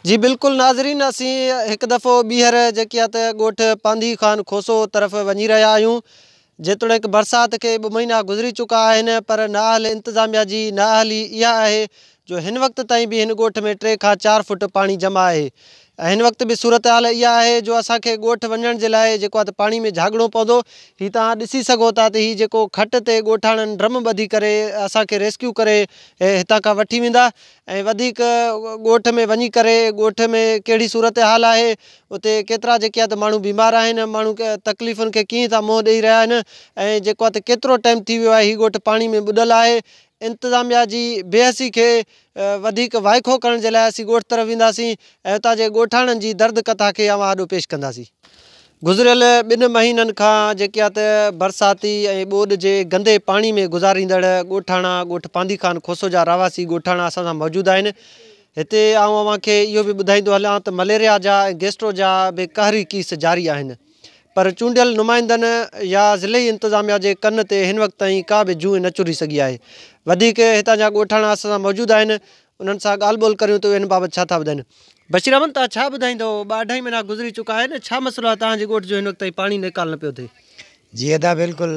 جي بلڪل ناظرين اسين هڪ دفعو ٻيهر جيڪي آهي ته ڳوٺ پانڌي خان کوسو طرف وڃي رهيا آهيون جيتوڻيڪ برسات کي ٻه مهينا گذري چڪا آهن پر نااهل انتظاميا جي نااهلي اها آهي جو هن وقت تائين به هن ڳوٺ ۾ ٽي کان چار فوٽ پاڻي جمع آهي ۽ هن وقت به صورتحال اها آهي جو اسان کي ڳوٺ وڃڻ جي لاء جيڪو آهي ته پاڻي ۾ جهاڳڻو پوندو هي توهان ڏسي سگهو ٿا ته هي جيڪو کٽ تي ڳوٺاڻن ڊرم ٻڌي ڪري اسان کي ريسڪيو ڪري هتان کان وٺي ويندا ۽ وڌيڪ ڳوٺ ۾ وڃي ڪري ڳوٺ ۾ ڪهڙي صورتحال آهي اتي ڪيترا جيڪي آهي ته ماڻهو بيمار آهن ماڻهو تڪليفن کي ڪيئن ٿا منهن ڏئي رهيا آهن ۽ جيڪو آهي ته ڪيترو ٽائيم ٿي ويو آهي هي ڳوٺ پاڻي ۾ ٻڏل آهي انتظاميا جي بي حسي کي وڌيڪ وائکو ڪرڻ جي لاء اسين ڳوٺ طرف وينداسين ۽ اتان جي ڳوٺاڻن جي درد ڪٿا کي اوهان آڏو پيش ڪنداسين. گذريل ٻن مهينن کان جيڪيا ته برساتي ۽ ٻوڏ جي گندي پاڻي ۾ گذاريندڙ ڳوٺاڻا ڳوٺ پانڌي خان کوسو جا رهواسي ڳوٺاڻا اسان سان موجود آهن هتي آئون اوهان کي اهو به ٻڌائيندو هلان ته مليريا جا ۽ گيسٽرو جا به قهري ڪيس جاري آهن پر چونڊيل نمائندن يا ضلعي انتظاميا جي ڪن تي هن وقت تائين ڪا به جونء نه چري سگهي آهي وڌيڪ هتان جا ڳوٺاڻا اسان سان موجود آهن انهن سان ڳالهه ٻولهه ڪريون ته اهي هن بابت ڇا ٿا ٻڌائين. بشير احمد، توهان ڇا ٻڌائيندؤ؟ ٻه اڍائي مهينا گذري چڪا آهن، ڇا مسئلو آهي توهان جي ڳوٺ جو هن وقت تائين پاڻي نيڪال نه پيو ٿئي؟ جي ادا بلڪل،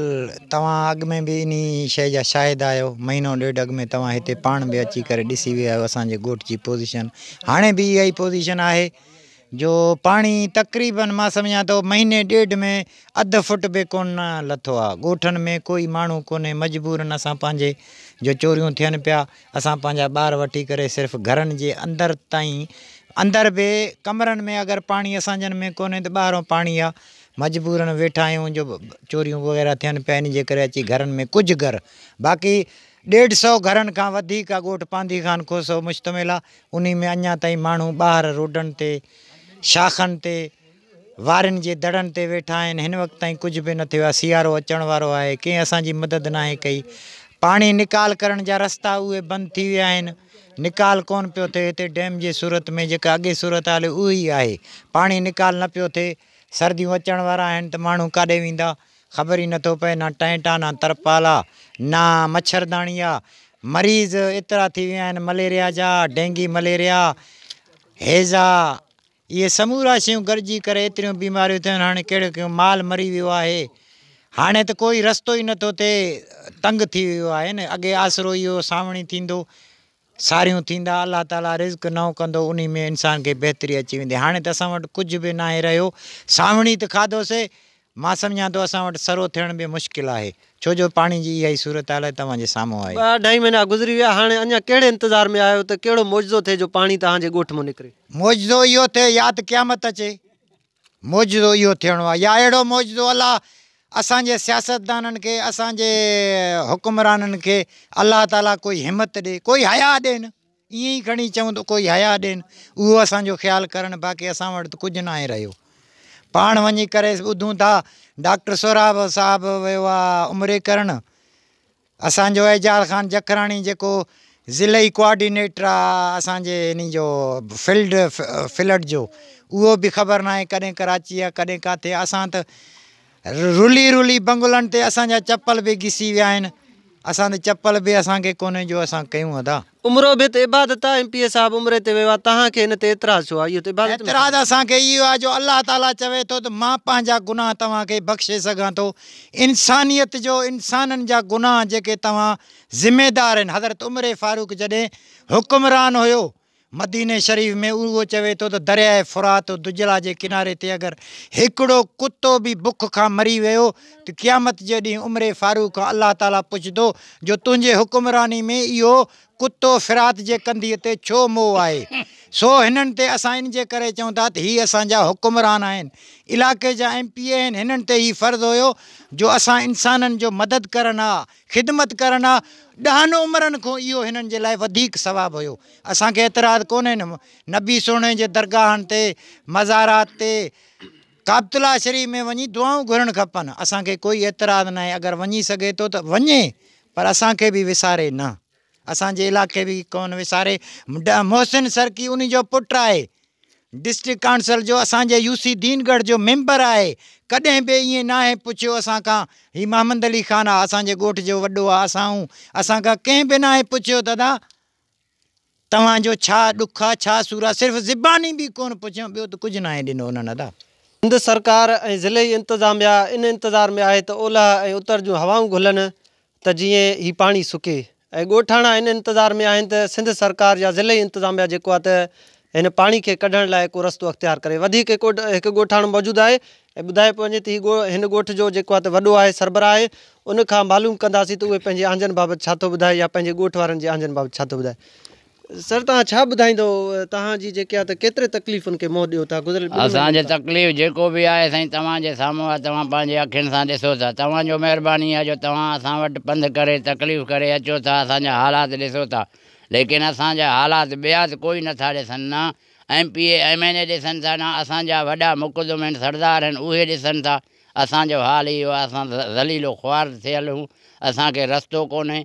توهان اڳ ۾ به انهي شيء جا شاهد آهيو، مهينو ڏيڍ اڳ ۾ توهان هتي پاڻ به اچي ڪري ڏسي ويا آهيو اسان جي ڳوٺ جي پوزيشن، هاڻي به اها ئي پوزيشن آهي جو پاڻي تقريبن مان سمجهان ٿو مهيني ڏيڍ ۾ اڌ فٽ به ڪونه لٿو آهي، ڳوٺن ۾ ڪوئي ماڻهو ڪونهي، مجبورن اسان پنهنجي جو چوريون ٿين پيا، اسان پنهنجا ٻار وٺي ڪري صرف گهرن جي اندر تائين اندر به ڪمرن ۾ اگر پاڻي اسان جن ۾ ڪونهي ته ٻاهران پاڻي آ مجبورن ويٺا آهيون جو چوريون وغيره ٿين پيا ان جي ڪري اچي گهرن ۾ ڪجهه گهر باقي ڏيڍ سو گهرن کان وڌيڪ آ ڳوٺ پانڌي خان کوسو مشتمل آ انهي ۾ اڃا تائين ماڻهو ٻاهر روڊن تي شاخن تي وارين جي دڙن تي ويٺا آهن، هن وقت تائين ڪجهه به نه ٿيو آهي، سيارو اچڻ وارو آهي، ڪنهن اسان جي مدد ناهي ڪئي، پاڻي نيڪال ڪرڻ جا رستا اهي بند ٿي ويا آهن، نيڪال ڪونه پيو ٿئي، هتي ڊيم جي صورت ۾ جيڪا اڳي صورتحال هئي اهي ئي آهي، پاڻي نيڪال نه پيو ٿئي، سرديون اچڻ وارا آهن ته ماڻهو ڪاڏي ويندا خبر ئي نه ٿو پئي، نه ٽينٽ آ، نه ترپال آ، نه مڇرداڻي آ، مريض ايترا ٿي ويا آهن مليريا جا، ڊينگي مليريا، هيضا، اهي سمورا شيون گڏجي ڪري ايتريون بيماريون ٿيون هاڻي ڪهڙو ڪهڙو مال مري ويو آهي هاڻي ته ڪوئي رستو ئي نٿو ٿئي تنگ ٿي ويو آهي نه اڳي آسرو اهي هو سانوڻي ٿيندو ساريون ٿيندا الله تعالي رزق نئون ڪندو انهي ۾ انسان کي بهتري اچي ويندي هاڻي ته اسان وٽ ڪجهه به ناهي رهيو سانوڻي ته کاڌوسي مان سمجهان ٿو اسان وٽ سرو ٿيڻ به مشڪل آهي ڇو جو پاڻي جي اها ئي صورتحال توهان جي سامهون آهي. ٻه اڍائي مهينا گذري ويا هاڻي اڃا ڪهڙي انتظار ۾ آهيو ته ڪهڙو معجزو ٿئي جو پاڻي توهان جي ڳوٺ مون نڪري. معجزو اهو ٿئي يا ته قيامت اچي معجزو اهو ٿيڻو آهي يا اهڙو معجزو الله اسان جي سياستدانن کي اسان جي حڪمرانن کي الله تعالي ڪوئي همت ڏي ڪوئي حيا ڏين. ائين ئي کڻي چئون ته ڪوئي حيا ڏين، اهو اسان جو خيال ڪرڻ، باقي اسان وٽ ته ڪجهه ناهي رهيو. پاڻ وڃي ڪري ٻڌون ٿا. ڊاڪٽر سهراب صاحب ويو آهي عمري ڪرڻ. اسان جو اعجاز خان جکراڻي جيڪو ضلعي ڪوآرڊينيٽر آهي اسان جي انهي جو فلڊ فلڊ جو اهو به خبر ناهي ڪڏهن ڪراچي آهي ڪڏهن ڪاٿي آهي اسان ته رلي رلي بنگلن تي اسان جا چپل به گسي ويا آهن اسان تي چپل به اسان کي ڪونهي جو اسان ڪيون ادا. عمرو بت عبادت آ ايم پي اي صاحب عمري تي ويو آ تهان کي ان تي اعتراض ڇو آ اهو ته عبادت ۾ اعتراض اسان کي اهو آ جو الله تعالي چوي ٿو ته مان پنهنجا گناهه توهان کي بخشي سگهان ٿو انسانيت جو انسانن جا گناهه جيڪي توهان ذميدار آهن حضرت عمري فاروق جڏهن حڪمران هيو مديني شريف ۾ اهو چوي ٿو ته درياء فرات و دجله جي ڪناري تي اگر هڪڙو ڪتو به بک کان مري ويو ته قيامت جي ڏينهن عمر فاروق کان الله تعاليٰ پڇندو جو تنهنجي حڪمراني ۾ اهو ڪتو فرات جي ڪنڌيء تي ڇو مئو آهي؟ سو هنن تي اسان ان جي ڪري چون ٿا ته هي اسان جا حڪمران آهن، علائقي جا ايم پي اي آهن، هنن تي هي فرض هيو جو اسان انسانن جو مدد ڪرن ها، خدمت ڪرڻ آ، ڏهن عمرن کون اهو هنن جي لاء وڌيڪ ثواب هيو. اسان کي اعتراض ڪونهي نه نبي سهڻي جي درگاهن تي، مزارات تي، ڪعبت الله شريف ۾ وڃي دعائون گهرڻ کپن، اسان کي ڪوئي اعتراض ناهي اگر وڃي سگهي ٿو ته وڃي پر اسان کي به وساري نه. اسان جي علائقي به ڪون وساري. محسن سرڪي انهي جو پٽ آهي. ڊسٽرڪٽ ڪائونسل جو اسان جي يو سي دين ڳڙهه جو ميمبر آهي. ڪڏهن به ائين ناهي پڇيو اسان کان. هي محمد علي خان آ اسان جي ڳوٺ جو وڏو آ اسان هون اسان کان ڪنهن به ناهي پڇيو دادا توهان جو ڇا ڏک آ ڇا سور آ صرف زباني به ڪون پڇيون ٻيو ته ڪجهه ناهي ڏنو انهن ادا. سنڌ سرڪار ۽ ضلعي انتظاميا ان انتظار ۾ آهي ته اولهه ۽ اتر جون هوائون گهلن ته جيئن هي پاڻي سڪي ۽ ڳوٺاڻا ان انتظار ۾ آهن ته سنڌ سرڪار يا ضلعي انتظاميا جيڪو آهي ته هن پاڻي کي ڪڍڻ لاء ڪو رستو اختيار ڪري وڌيڪ هڪ هڪ ڳوٺاڻو موجود آهي ۽ ٻڌايو پيو وڃي ته هي ڳوٺ هن ڳوٺ جو جيڪو آهي ته وڏو آهي سربراهه آهي ان کان معلوم ڪنداسين ته اهي پنهنجي آنجن بابت ڇا ٿو ٻڌائي يا پنهنجي ڳوٺ وارن جي آنجن بابت ڇا ٿو ٻڌائي سر توهان ڇا ٻڌائيندو توهان جي جيڪي آهي ته ڪيتري تڪليفن کي منهن ڏيو ٿا گذريل ٻن اسان جو مهينن کان. تڪليف جيڪو به آهي سائين توهان جي سامهون آهي توهان پنهنجي اکين سان ڏسو ٿا توهان جو مهرباني آهي جو توهان اسان وٽ پنڌ ڪري تڪليف ڪري اچو ٿا اسان جا حالات ڏسو ٿا ليڪن اسان جا حالات ٻيا ته ڪوئي نه ٿا ڏسن نه M P A M N A ڏسن ٿا نه اسان جا وڏا مقدم هين سردار هين اهي ڏسن ٿا اسان جو حال اهو آهي اسان ذليل و خوار ٿيل هون اسان کي رستو ڪونهي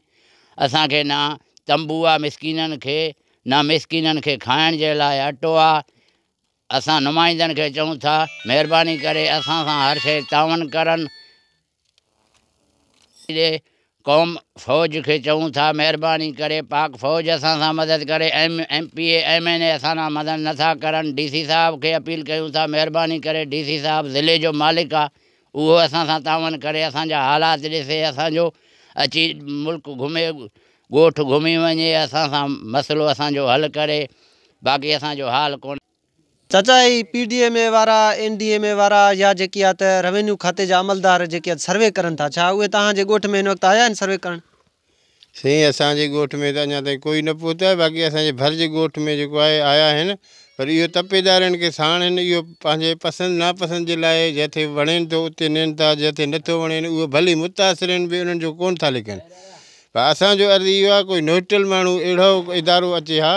اسان کي نه تنبو آ مسڪينن کي نه مسڪينن کي کائڻ جي لاء اٽو آ اسان نمائندن کي چئون ٿا مهرباني ڪري اسان سان هر شيء تعاون ڪرن ڏي قوم فوج کي چئون ٿا مهرباني ڪري پاڪ فوج اسان سان مدد ڪري M M P A M N A اسان سان مدد نه ٿا ڪرن ڊي سي صاحب کي اپيل ڪيون ٿا مهرباني ڪري ڊي سي صاحب ضلعي جو مالڪ آ اهو اسان سان تعاون ڪري، اسان جا حالات ڏسي، اسان جو اچي ملڪ گهمي، ڳوٺ گهمي وڃي، اسان سان مسئلو اسان جو حل ڪري، باقي اسان جو حال ڪونه. چاچا هي پي ڊي ايم اي وارا، اين ڊي ايم اي وارا يا جيڪي آ ته روينيو کاتي جا عملدار جيڪي آ سروي ڪرن ٿا ڇا اهي توهان جي ڳوٺ ۾ هن وقت آيا آهن سروي ڪرڻ؟ سائين اسان جي ڳوٺ ۾ ته اڃا تائين ڪوئي نه پهتو آهي باقي اسان جي ڀر جي ڳوٺ ۾ جيڪو آهي آيا آهن پر اهو تپيدارن کي ساڻ هن اهو پنهنجي پسند ناپسند جي لاء جتي وڻين ٿو اتي نين ٿا جتي نه ٿو وڻين اهو ڀلي متاثرين به انهن جو ڪون ٿا لکن پر اسان جو عرض اهو آهي ڪوئي نوٽل ماڻهو اهڙو ادارو اچي ها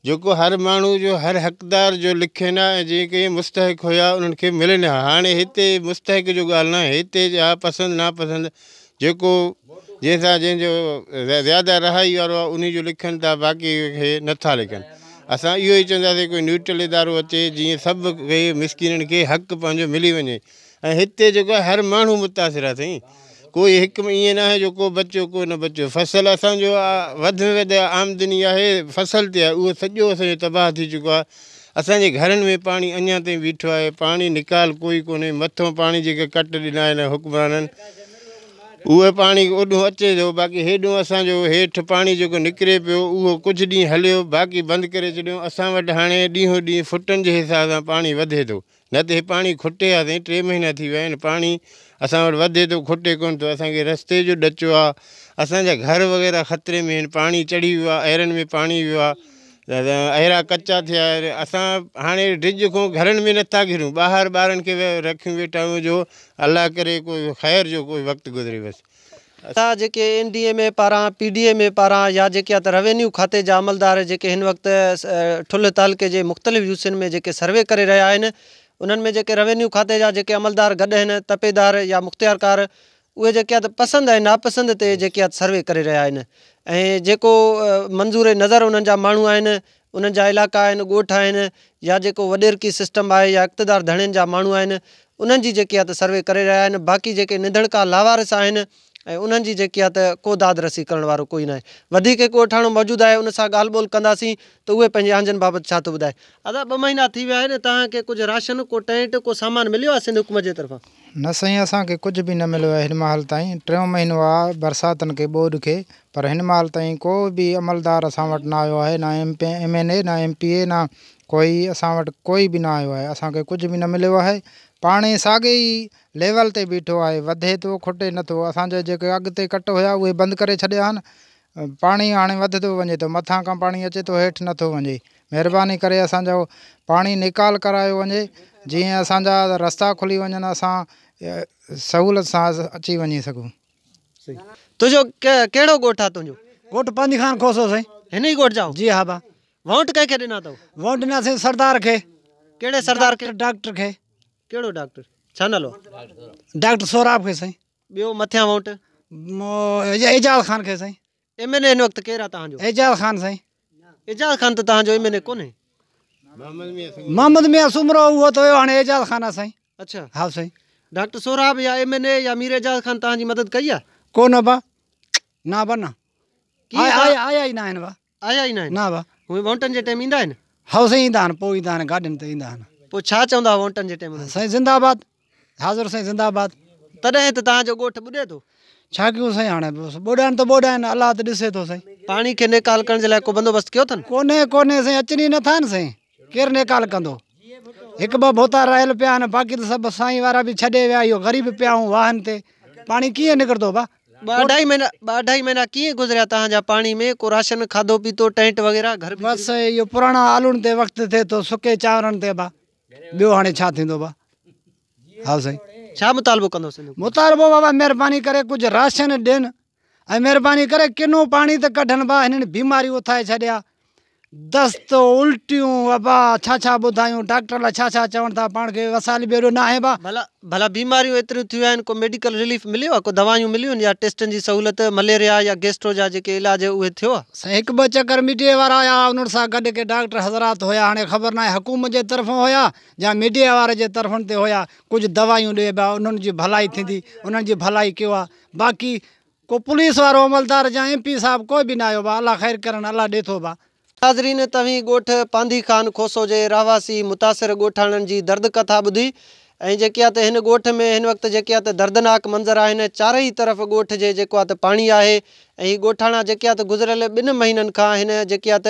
جيڪو هر ماڻهو جو هر حقدار جو لکين ها ۽ جيڪي مستحق هيا انهن کي ملين ها هاڻي هتي مستحق جو ڳالهه نه آهي هتي جا پسند ناپسند جيڪو جنهن سان جنهن جو زياده رهائي وارو آهي انهي جو لکن ٿا باقي کي نه ٿا لکن اسان اهو ئي چونداسين ڪوئي نيوٽرل ادارو اچي جيئن سڀ کي مسڪينن کي حق پنهنجو ملي وڃي ۽ هتي جيڪو آهي هر ماڻهو متاثر آهي سائين ڪوئي هڪ ۾ ائين ناهي جو ڪو بچيو ڪو نه بچيو فصل اسان جو وڌ ۾ وڌ آمدني آهي فصل تي آهي اهو سڄو اسان جو تباهه ٿي چڪو آهي اسان جي گهرن ۾ پاڻي اڃان تائين بيٺو آهي پاڻي نيڪال ڪوئي ڪونهي مٿو پاڻي جيڪي ڪٽ ڏنا آهن حڪمرانن اهو پاڻي اوڏو اچي ٿو باقي هيڏو اسان جو هيٺ پاڻي جيڪو نڪري پيو اهو ڪجهه ڏينهن هليو باقي بند ڪري ڇڏيو اسان وٽ هاڻي ڏينهون ڏينهن فٽن جي حساب سان پاڻي وڌي ٿو نه ته هي پاڻي کٽي آ سائين ٽي مهينا ٿي ويا آهن پاڻي اسان وٽ وڌي ٿو کٽي ڪونه ٿو اسان کي رستي جو ڏچو آ اسان جا گهر وغيره خطري ۾ آهن پاڻي چڙهي ويو آ ايرن ۾ پاڻي ويو آ ايرا ڪچا ٿيا آهن اسان هاڻي ڊج کان گهرن ۾ نٿا گهرون ٻاهر ٻارن کي رکيون ويٺا آهيون جو الله ڪري ڪوئي خير جو ڪوئي وقت گذري بس اھا جيڪي اين ڊي ايم اي پاران، پي ڊي ايم اي پاران يا جيڪي ات روينيو کاتي جا عملدار جيڪي ھن وقت ٺلھ تعلقي جي مختلف يو سين ۾ جيڪي سروي ڪري رھيا آھن انھن ۾ جيڪي روينيو کاتي جا جيڪي عملدار گڏ ھن تپيدار يا مختيارڪار اھي جيڪي ات پسند ۽ ناپسند تي جيڪي ات سروي ڪري رھيا آھن ۽ جيڪو منظور نظر انھن جا ماڻھو آھن انهن جا علائقا آهن، ڳوٺ آهن يا جيڪو وڏيرڪي سسٽم آهي يا اقتدار ڌڻين جا ماڻهو آهن انهن جي جيڪي آهي ته سروي ڪري رهيا آهن باقي جيڪي نڌڻڪا لاوارث آهن ۽ انهن جي جيڪي آهي ته ڪو داد رسي ڪرڻ وارو ڪوئي ناهي وڌيڪ هڪ ڳوٺاڻو موجود آهي ان سان ڳالهه ٻولهه ڪنداسين ته اهي پنهنجي آنجن بابت ڇا ٿو ٻڌائي. ادا ٻه مهينا ٿي ويا آهن توهان کي ڪجهه راشن ڪو ٽينٽ ڪو سامان مليو آهي سنڌ حڪومت جي طرفان. نه سائين اسان کي ڪجهه به نه مليو آهي هن مهل تائين ٽيون مهينو آ برساتن کي ٻوڏ کي پر هن مهل تائين ڪو به عملدار اسان وٽ نه آيو آهي نه M P M N A نه ايم پي اي نه ڪوئي اسان وٽ ڪوئي به نه آيو آهي اسان کي ڪجهه به نه مليو آهي پاڻي ساڳي ئي ليول تي بيٺو آهي وڌي ٿو کٽي نٿو اسان جا جيڪي اڳتي ڪٽ هيا اهي بند ڪري ڇڏيا آهن پاڻي هاڻي وڌندو وڃي ٿو مٿان کان پاڻي اچي ٿو هيٺ نٿو وڃي مهرباني ڪري اسانجو پاڻي نيڪال ڪرايو وڃي جيئن اسانجا رستا کلي وڃن اسان سهولت سان اچي وڃي سگهون. تنهنجو ڪهڙو ڳوٺ آ تنهنجو. ڳوٺ پنج خان کوسو سائين. هن ئي ڳوٺ جا آهو. جي ها با. وونٽ ڪنهن کي ڏنا اٿو. وونٽ ڏنا سائين سردار کي. ڪهڙي سردار کي. ڊاڪٽر کي. ڪهڙو ڊاڪٽر ڇا نالو. ڊاڪٽر سهراب کي سائين. ٻيو مٿيان ووٽ. اعجاز خان کي سائين. ايم اين اي هن وقت ڪير آ توهان جو. اعجاز خان سائين. اعجاز خان ته توهان جو ايم اين اي ڪونهي. محمد ميان سومرو اهو ته ويو هاڻي اعجاز خان آ سائين. اڇا هائو سائين. ڊاڪٽر سهراب يا ايم اين اي يا مير اعجاز خان توهان جي مدد ڪئي آ. ڪونه با نا با نا آيا ئي ناهن با. آيا ئي ناهن؟ نه ڀا. هونئن وونٽن جي ٽيم ايندا آهن؟ هئو سائين ايندا آهن پوء ايندا آهن گاڏين تي ايندا آهن. پوء ڇا چوندا وونٽن جي ٽيم انهن کي؟ سائين زنده آباد حاضر سائين زنده آباد. تڏهن ته توهان جو ڳوٺ ٻڏي ٿو. ڇا ڪيون سائين هاڻي بس ٻوڏائن ته ٻوڏائن الله ته ڏسي ٿو سائين. پاڻي کي نيڪال ڪرڻ جي لاء ڪو بندوبست ڪيو اٿن؟ ڪونهي ڪونهي سائين اچن ئي نٿا نه سائين. ڪير نيڪال ڪندو. هڪ ٻه ڀوتا رهيل پيا آهن باقي ته سڀ سائين وارا به ڇڏي ويا اهو غريب پيا آهون واهن تي پاڻي ڪيئن نڪرندو ڀا. ٻه اڍائي مهينا ٻه اڍائي مهينا ڪيئن گذريا توهان جا پاڻي ۾ ڪو راشن کاڌو پيتو ٽينٽ وغيره گهر بس بڇري. اهو پراڻا آلوڻ تي وقت ٿئي ٿو سڪي چانورن تي ڀا ٻيو هاڻي ڇا ٿيندو ڀا هائو سائين. ڇا مطالبو ڪندو سنڌ حڪومت. مطالبو بابا مهرباني ڪري ڪجهه راشن ڏين ۽ مھرباني ڪري ڪنو پاڻي ته ڪڍن با ھنن بيماريون اٿائي ڇڏيا دست الٽيون وبا ڇا ڇا ٻڌايون ڊاڪٽر الا ڇا ڇا چون ٿا پاڻ کي وسائل به ايڏو ناھي با. ڀلا ڀلا بيماريون ايتريون ٿيون آھن ڪو ميڊيڪل رليف مليو آ ڪو دوائيون مليون يا ٽيسٽن جي سھولت مليريا يا گيسٽرو جا جيڪي علاج اھي ٿيو آ. سائين ھڪ ٻه چڪر ميڊيا وارا آيا ھا انھن سان گڏ ڪي ڊاڪٽر حضرات ھيا ھاڻي خبر ناھي حڪومت جي طرفون ھيا يا ميڊيا وارن جي طرفن تي ھيا ڪجھ دوائيون ڏي با انھن جي ڀلائي ٿيندي انھن جي ڀلائي ڪيو آ. باقي ڪو پوليس وارو عملدار جا ايم پي صاحب ڪوئي به نه آيو با الله خير ڪرڻ الله ڏي ٿو با. ناظرين توهين ڳوٺ پانڌي خان کوسو جي رهواسي متاثر ڳوٺاڻن جي درد ڪٿا ٻڌي ۽ جيڪي آت هن ڳوٺ ۾ هن وقت جيڪي آت دردناڪ منظر آهن چارئي طرف ڳوٺ جي جيڪو آت پاڻي آهي ۽ هي ڳوٺاڻا جيڪي آت گذريل ٻن مهينن کان هن جيڪي آت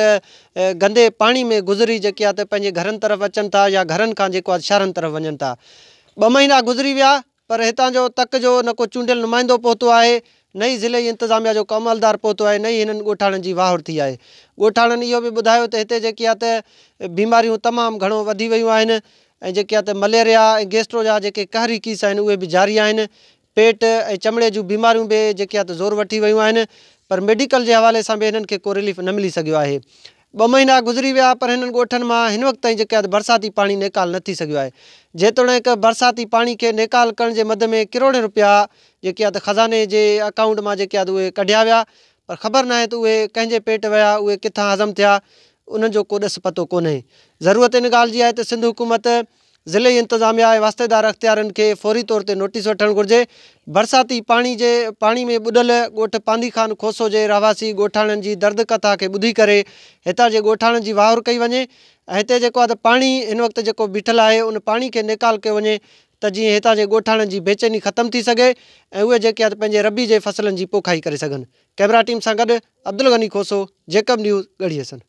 گندي پاڻي ۾ گذري جيڪي آت پنهنجي گهرن طرف اچن ٿا يا گهرن کان جيڪو آت شهرن طرف وڃن ٿا ٻه مهينا گذري ويا پر هتان جو تڪ جو نه ڪو چونڊيل نمائندو پهتو آهي نه ئي ضلعي انتظاميا جو ڪو عملدار پهتو آهي نه ئي هنن ڳوٺاڻن جي واهور ٿي آهي ڳوٺاڻن اهو به ٻڌايو ته هتي جيڪي آ ته بيماريون تمام گهڻو وڌي ويون آهن ۽ جيڪي آ ته مليريا ۽ گيسٽرو جا جيڪي قهري ڪيس آهن اهي به جاري آهن پيٽ ۽ چمڙي جون بيماريون به جيڪي آ ته زور وٺي ويون آهن پر ميڊيڪل جي حوالي سان به هنن کي ڪو رليف نه ملي سگهيو آهي ٻه مهينا گذري ويا پر هنن ڳوٺن مان هن وقت تائين جيڪي هنڌ برساتي پاڻي نيڪال نه ٿي سگهيو آهي جيتوڻيڪ برساتي پاڻي کي نيڪال ڪرڻ جي مد ۾ ڪروڙين رپيا جيڪي آهي ته خزاني جي اڪائونٽ مان جيڪي آهي ته اهي ڪڍيا ويا پر خبر ناهي ته اهي ڪنهن جي پيٽ ويا اهي ڪٿان هضم ٿيا انهن جو ڪو ڏس پتو ڪونهي ضرورت ان ڳالهه جي آهي ته سنڌ حڪومت ضلعي انتظاميا ۽ واسطيدار اختيارين کي فوري طور تي نوٽيس وٺڻ گهرجي برساتي پاڻي جي پاڻي ۾ ٻڏل ڳوٺ پانڌي خان کوسو جي رهواسي ڳوٺاڻن جي درد ڪٿا کي ٻڌي ڪري هتان جي ڳوٺاڻن جي واهور ڪئي وڃي ۽ هتي جيڪو اڌ پاڻي هن وقت جيڪو بيٺل آهي ان پاڻي کي نيڪال ڪيو وڃي ته جيئن هتان جي ڳوٺاڻن جي بيچيني ختم ٿي سگهي ۽ اهي جيڪي اڌ پنهنجي ربي جي فصلن جي پوکائي ڪري سگهن ڪئميرا ٽيم سان گڏ عبدالغني کوسو جيڪب نيوز ڳڙهي حسن.